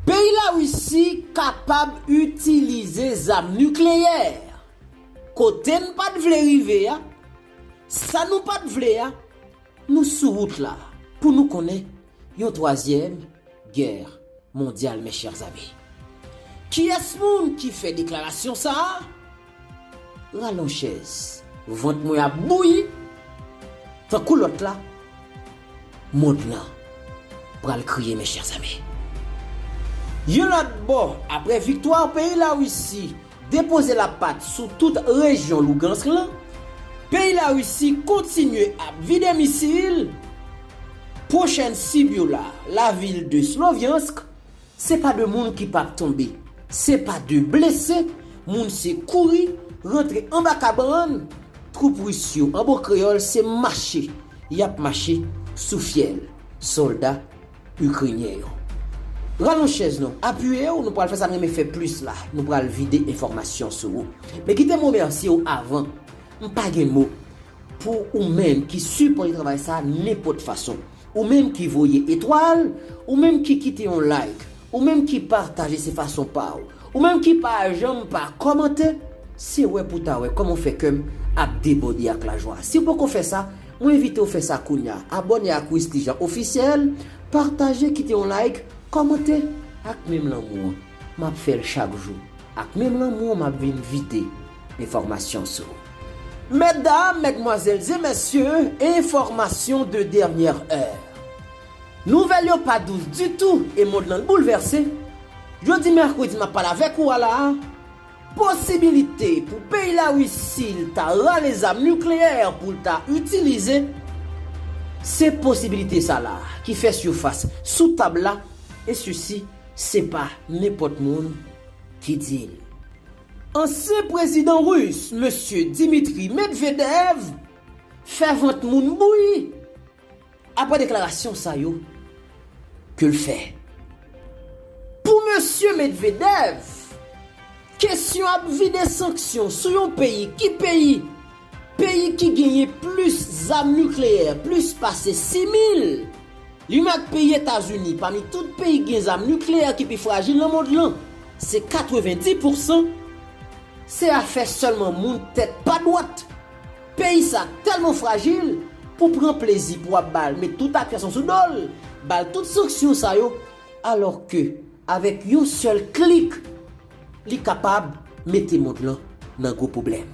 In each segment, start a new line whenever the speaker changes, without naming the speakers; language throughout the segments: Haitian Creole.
Peyi Larisi kapab itilize zam nikleyè, kote n pa t vle rive a, sa nou pa t vle a, nou sou wout la pou nou konnen yon twazyèm gè mondyal mes chers amis. Kiyès moun ki fè deklarasyon sa a? Ralon chèz. Vant mwen ap bouyi tankou lòt la mond lan pral kriye mes chers amis. Yon lòt bò, aprè viktwa peyi Larisi depoze lapat sou tout rejyon Lougansk lan, peyi Larisi kontinye ap vide misil, pwochèn sib yo la, lavil de Sloviansk, Se pa de moun ki pap tonbe. Se pa de blese moun se kouri rantre anba kabann twoup Ris yo. An bon kreyòl se mache y ap mache sou fyèl sòlda Ikrenyen yo. Ralonj chèz nou, apiye w, nou pral fè sa n renmen fè plis la, nou pral vide enfòmasyon sou ou. Men kite m remèsye w avan, m pa gen mo pou oumenm ki sipòte travay sa nenpòt fason. Ou menm ki voye etwal, ou menm ki kite yon like, ou menm ki pataje se fason paw, ou menm ki pa janm pa kòmante, se wè pou ta wè kòman w fè kèm ap debòde ak lajwa. Siw poko fè sa, mwen envitew fè sa kounya, abòne ak Wisly Jean Officiel, pataje, kite yon like, kòmante ak menm lanmou an. Map fèl chak jou ak menm lanmou map vin vide enfòmasyon sou. Mètdam, mètmwazèl e mèsye, enfòmasyon de dènyè è. Nouvèl yo pa dous ditou e mond lan boulvèse, jodi mèkredi map pale avèk ou a la a, posibilite pou peyi Larisi ta rale zam nikleyè poul ta itilize, se posibilite sa la a ki fè sifas sou tab la e sisi. Se pa nenpòt moun ki di l. Ansyen prezidan Ris Mesye Dimitri Medvedev fè vant moun bouyi aprè deklarasyon sa yo ke l fè. Pou Mesye Medvedev, kesyon ap vide sanksyon sou yon peyi ki peyi? Peyi ki genyen plis zam nikleyè, plis pase 6 mil! Li menm ak peyi Etazini, pami tout peyi ki gen zam nikleyè ki pi frajil nan mond lan. Se 90 pousan! Se afè sèlman moun tèt pa dwat! Peyi sa tèlman frajil, pou pran plezi pou ap ba l, met tout akyasyon sou do l, ba l tout sanksyon sa yo, alò ke avèk yon sèl klik, Li kapab mete mond lan nan gwo pwoblèm.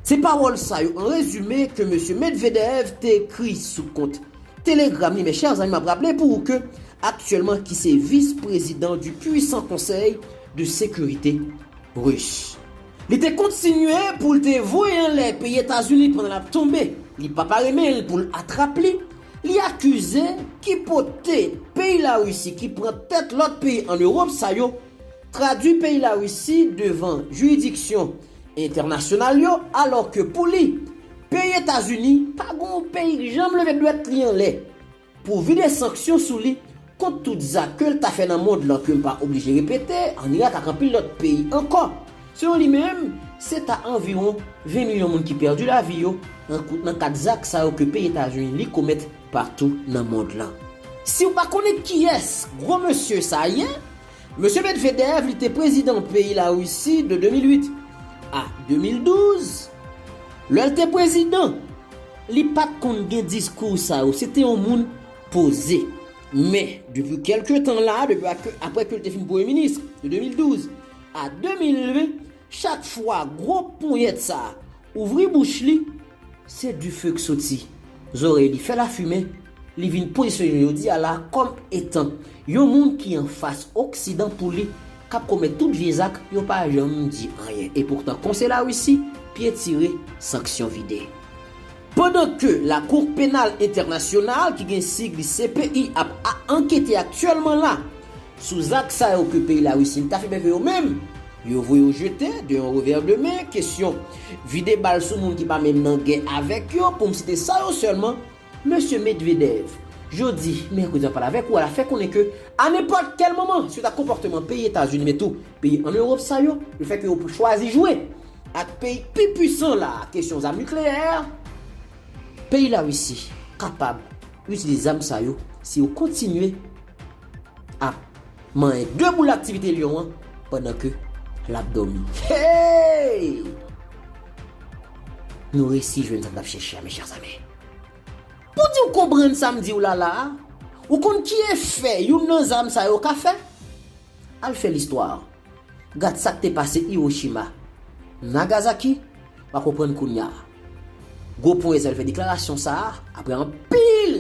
Se pawòl sa yo an rezime ke Mesye Medvedev te ekri sou kont Telegram li, mes chers amis map raple pou ou ke aktyèlman ki se vis prezidan du puissant konsèy de sekirite Ris. Li te kontinye pou l te voye anlè peyi Etazini pandan lap tonbe, li pa pare men l pou l atrap li, li akize ki pote peyi Larisi ki pran tèt lòt peyi an Ewòp sa yo, tradwi peyi Larisi devan jiridiksyon entènasyonal yo alò ke pou li, peyi Etazini pa gen yon peyi k janm leve dwèt li anlè pou vide sanksyon sou li kont tout zak ke l ta fè nan mond lan ke m pa oblije repete, an Irak ak anpil lòt peyi ankò. Selon li menm, se ta anviwon 20 milyon moun ki pèdi lavi yo nan kad zak sa yo ke peyi Etazini li komèt patou nan mond lan. Siw pa konnen kiyès gwo mesye sa ye, Mesye Medvedev li te prezidan peyi la Risi de 2008 a 2012, lèl te prezidan li pat konn gen diskou sa yo, se te yon moun poze. Men depi kèlke tan la, depi aprè ke li te fin premye minis de 2012 a 2020, Chak fwa gwo ponyèt sa a ouvri bouch li, se dife k soti zòrèy li, fè lafimen, li vin pozisyone jodi a la kòm etan yon moun ki anfas oksidan pou li k ap komèt tout vye zak yo pa janm di anyen e poutan kon se Larisi pye tire sanksyon vide. Pandan ke Lakou Penal Entènasyonal ki gen sig li CPI ap a ankete aktyèlman la, Sou zak sa yo ke peyi Larisi ta fè bèfe yo menm, yo voye yo jete de yon revè de men, kesyon vide bal sou moun ki pa menm nan gè avèk yo, pou m site sa yo sèlman. Mesye Medvedev, jodi, mèkredi nan palavèk ou a la fè konnen ke a nenpòt kèl moman, suit ak konpòteman peyi Etazini men tou peyi an Ewop sa yo, le fè ke yo chwazi jwe ak peyi ki pi pwisan la a kesyon zam nikleyè, peyi Larisi kapab itilize zam sa yo si yo kontinye. ap manyen de boul aktivite lyon an pandan ke lap domi hey nou resi jwenn sa nou tap chèche a mes chers amis pou diw konprann sam diw la la a ou konn ki efè youn nan zam sa yo ka fè al fè listwa gad sak te pase Hiroshima Nagasaki wa konprann kounya. Gwo pwen Ezèl fè deklarasyon sa a aprè anpil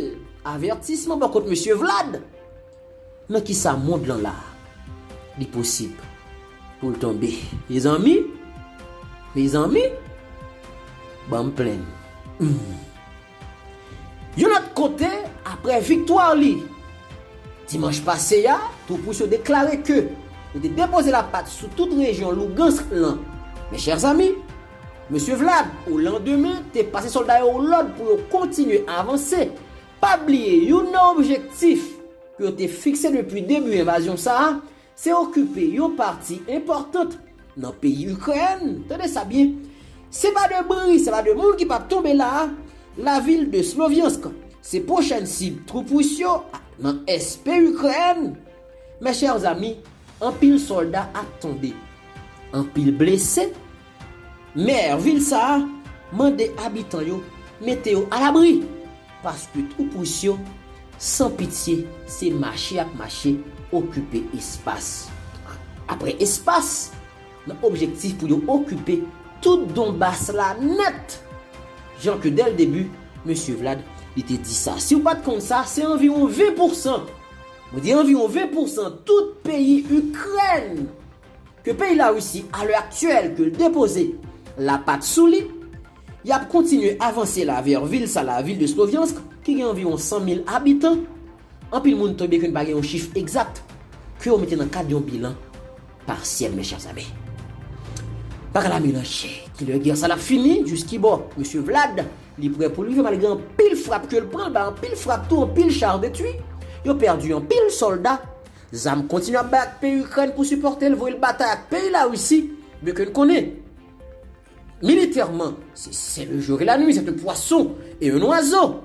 avètisman bò kot Mesye Vlad. Nan kisa mond lan la a? Li posib pou l tonbe. Mezanmi! Mezanmi! Ban m plenn. Humm. Yon lòt kote, aprè viktwa li dimanch pase a, twoup-rus yo deklare ke yo te depoze lapat sou tout rejyon Lougansk lan. Mes chers amis, Mesye Vlad, o landemen, te pase sòlda yo lòd pou yo kontinye avanse. Pa bliye, youn nan objektif ke yo te fikse depi debi envazyon sa a, se okipe yon pati enpòtant nan peyi Ikrèn, tande sa byen, se pa de bri, se pa de moun ki pap tonbe la a, lavil de Sloviansk. Se pwochèn sib twoup Ris yo nan ès peyi Ikrèn Mes chers amis, anpil solda ap tonbe, anpil blese, Maire vil sa a mande abitan yo mete yo alabri paske twoup Ris yo san pitye se mache yap mache okipe espas apre espas nan objektif pou yo okipe tout Donbas la nèt jan ke dèl debi Mesye Vlad li te di sa. Siw pat konn sa se anviwon 20 pousan Mwen di anviwon 20 pousan tout peyi Ikrèn ke peyi Larisi a lè aktyèl ke l depoze lapat sou li, y ap kontinye avanse la vè vil sa la, vil de Sloviansk ki gen anviwon 100 mil abitan, anpil moun tonbe ke n pa gen yon chif egzat ke yo mete nan kad yon bilan. Partiel mes chers amis. Bagay la melanje. Kilè gè sa lap fini, jis ki bò? Mesye Vlad, li prè pou l rive malgre anpil frap ke l pran, l bay anpil frap tou, anpil char detwi, yo pèdi anpil sòlda, zam kontinye ap bay ak peyi Ikrèn pou sipòte l, voye l batay ak peyi Larisi, men ke n konnen, militèman, se se le jour et la nuit, c'est un poisson et un oiseau!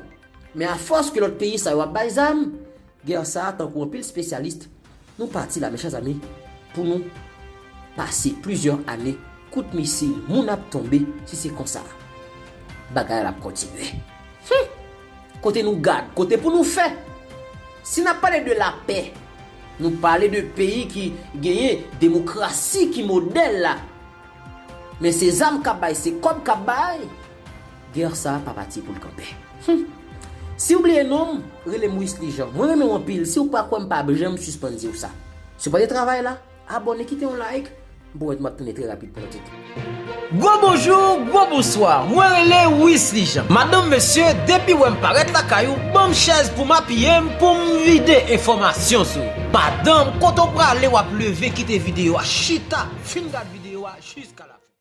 Men a fòs ke lòt peyi sa yo ap bay zam, gè sa a tankou anpil spesyalis Nou pati la men chè zanmi pou nou pase plizyè ane kout misil moun ap tonbe si se konsa bagay la ap kontinye humm kote nou gad kote pou nou fè si nap pale de lapè nou pale de peyi ki genyen demokrasi ki modèl la men se zam kap bay se kòb kap bay. Guerre sa pa pati poul kanpe. Humm. Siw bliye nonm, relem Wisly Jean. Mwen renmenw anpil, siw pa kwèm pap janm sispann diw sa. Sipòte travay la, abòne kite yon like, m pwomèt map tounen trè rapid pou lòt ide. Gwo
bonjour, gwo bonsoir, mwen rele Wisly Jean. Madanm mesye, depi wèm parèt lakay ou, banm chèz poum apiyem poum vide enfòmasyon sou ou. Madanm, kote w prale wap leve kite videyo a chita, fin gad videyo a jiska la fen.